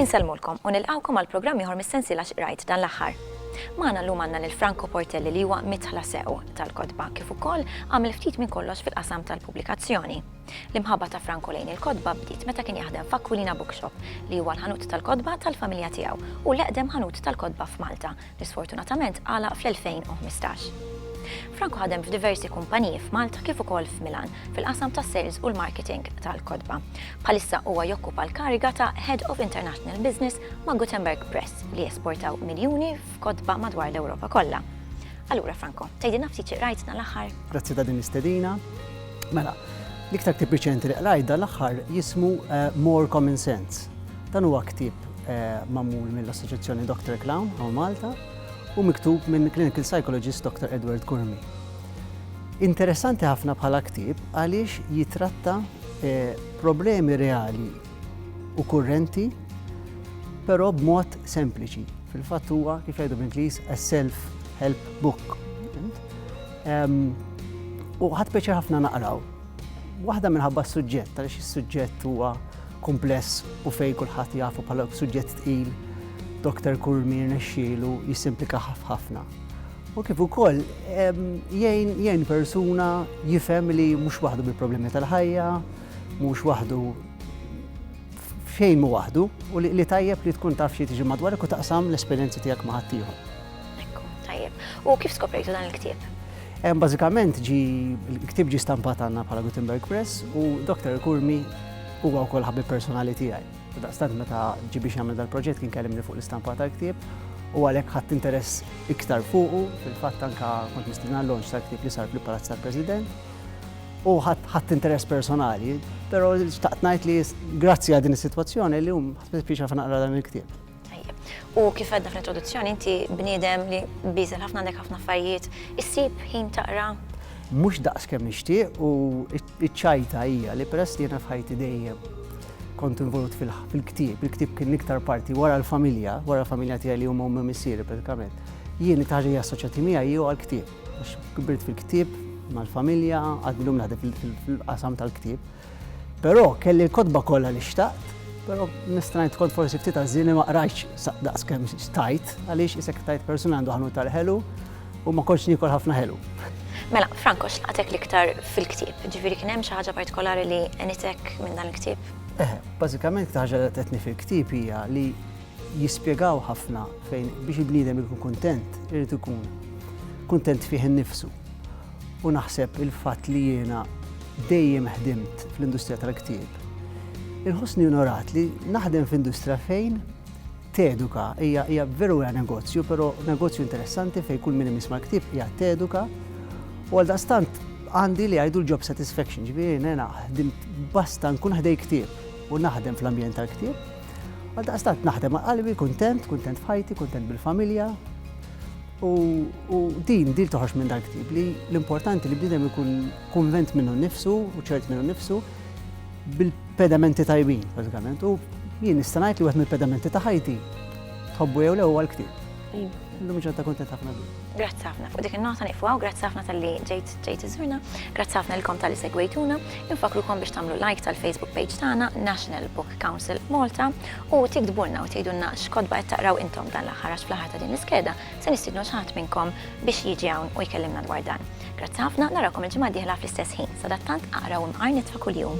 Insellmulkom u nilqgħukom għal programm ieħor mis-sensiela x'qrajt dan l-aħħar. Magħna llum għandna lil Franco Portelli li huwa mitħla sew tal-kotba kif ukoll għamel ftit minn kollox fil-qasam tal-pubblikazzjoni. L-imħabba ta' Franco lejn il-kotba bdiet meta kien jaħdem f'Aquilina Bookshop, li huwa l-ħanut tal-kotba tal-familja tiegħu u l-eqdem ħanut tal-kotba f'Malta, li sfortunatament għalaq fl-2015. Franco ħadem f'diversi kumpaniji f'Malta kif ukoll f'Milan fil-qasam tas-sales u l-marketing tal-kotba. Bħalissa huwa jokkupa l-kariga ta' Head of International Business ma' Gutenberg Press li jesportaw miljuni f'kotba madwar l-Ewropa kollha. Allura Franco, tgħidilna ftit xi qrajtna l-aħħar? Grazzi ta' din l-istedina. Mela, l-iktar ktieb riċenti li qrajt dan l-aħħar jismu eh, More Common Sense. Dan huwa ktieb eh, magħmul mill-Assoċjazzjoni Dr. Clown għaw Malta u miktub minn clinical psychologist Dr. Edward Kurmi. Interessanti ħafna bħala ktieb għaliex jitratta eh, problemi reali u kurrenti però b'mod sempliċi. Fil-fatt huwa kif jgħidu bl-Ingliż a self-help book. U ħadd peċa ħafna naqraw. Waħda minħabba s-suġġett, għaliex is-suġġett huwa kumpless u fej kulħadd jafu bħala suġġett tqil, Dr. Kurmi nexxielu jisimplika ħafna. U kif ukoll jgħin persuna jifhem li mhux waħdu bil-problemi tal-ħajja, mhux waħdu fejn mu waħdu u li tajjeb li tkun taf xi tiġi madwarek u taqsam l-esperjenzi tiegħek ma' ħaddieħor. Ekku, tajjeb. U kif skoprejtu dan il-ktieb? Bażikament ġi l-ktieb ġi stampat għandna bħala Gutenberg Press u Dr. Kurmi huwa wkoll ħabib personali tiegħi. Daqstant meta ġi biex jagħmel dal-proġett kien kellimni fuq l-istampa tal-ktieb u għalhekk ħadd interess iktar fuqu fil-fatt anka kont mistina l-lonġ tal-ktieb li sar fil-Palazz tal-President u ħadd interess personali, però xtaqt ngħid li grazzi għal din is-sitwazzjoni li hum ħadd spiċċa naqra dan il-ktieb. U kif għedna fl-introduzzjoni, inti bniedem li bizel ħafna għandek ħafna affarijiet, issib ħin taqra. Mhux daqs kemm nixtieq u ċ-ċajta hija li peress li jiena f'ħajti dejjem kont involut fil-ktieb, il-ktieb kien l-iktar parti wara l-familja, wara l-familja tiegħi li huma ummi missieri pratikament. Jien it-ħaġa hija assoċjati miegħi jew għall-ktieb. Għax kibirt fil-ktieb mal-familja, għadlum naħdem fil-qasam tal-ktieb. Però kelli l-kotba kollha li xtaqt, però mistrajt kont forsi ftit għażieni ma qrajtx sa daqs kemm xtajt għaliex isek tajt persuna għandu ħanut tal-ħelu u ma kontx niekol ħafna ħelu. Mela, Franco, x'laqtek l-iktar fil-ktieb? Ġifieri kien hemm xi ħaġa partikolari li għenitek minn dan il-ktieb? Eħe, bażikament iktar ħaġa li qedtni fil-ktieb hija li jispjegaw ħafna fejn biex il-bniedem ikun kuntent irid ikun kuntent fih innifsu. U naħseb il-fatt li jiena dejjem ħdimt fl-industrija tal-ktieb, inħossni onorat li naħdem f'industrija fejn teduka, hija hija veru hija negozju, però negozju interessanti fejn kull min imisma' l-ktieb hija teduka. U għal daqstant għandi li jgħidu l-job satisfaction, ġifieri nena ħdimt basta nkun ħdej ktieb u naħdem fl-ambjent tal-ktieb. Għal daqstant naħdem għal qalbi, kuntent, kuntent f'ħajti, kuntent bil-familja, U din, din toħroġ minn dal-ktieb li l-importanti li bniedem ikun kunvent minnu nnifsu u ċert minnu nnifsu bil-pedamenti tajbin, bażikament. U jien nista' ngħid li wieħed mill-pedamenti ta' ħajti tħobbu jew le huwa l-ktieb. Iva. Illum ġodda kontent ħafna bi. Grazzi ħafna. Fuq dik in-nota nieqfu hawn, grazzi ħafna tal-li ġejt ġejt iżurna, grazzi ħafna lilkom tal-li segwejtuna, infakrukom biex tagħmlu like tal-Facebook page tagħna National Book Council Malta U tiktbulna u tgħidulna x'kotba qed taqraw intom dan l-aħħar għax fl-aħħar ta' din l-iskeda se nistiednu lil xi ħadd minnkom biex jiġi hawn u jkellimna dwar dan. Grazzi ħafna, narawkom il-ġimgħa d-dieħla fl-istess ħin. Sadattant aqra u imqar nitfa' kuljum.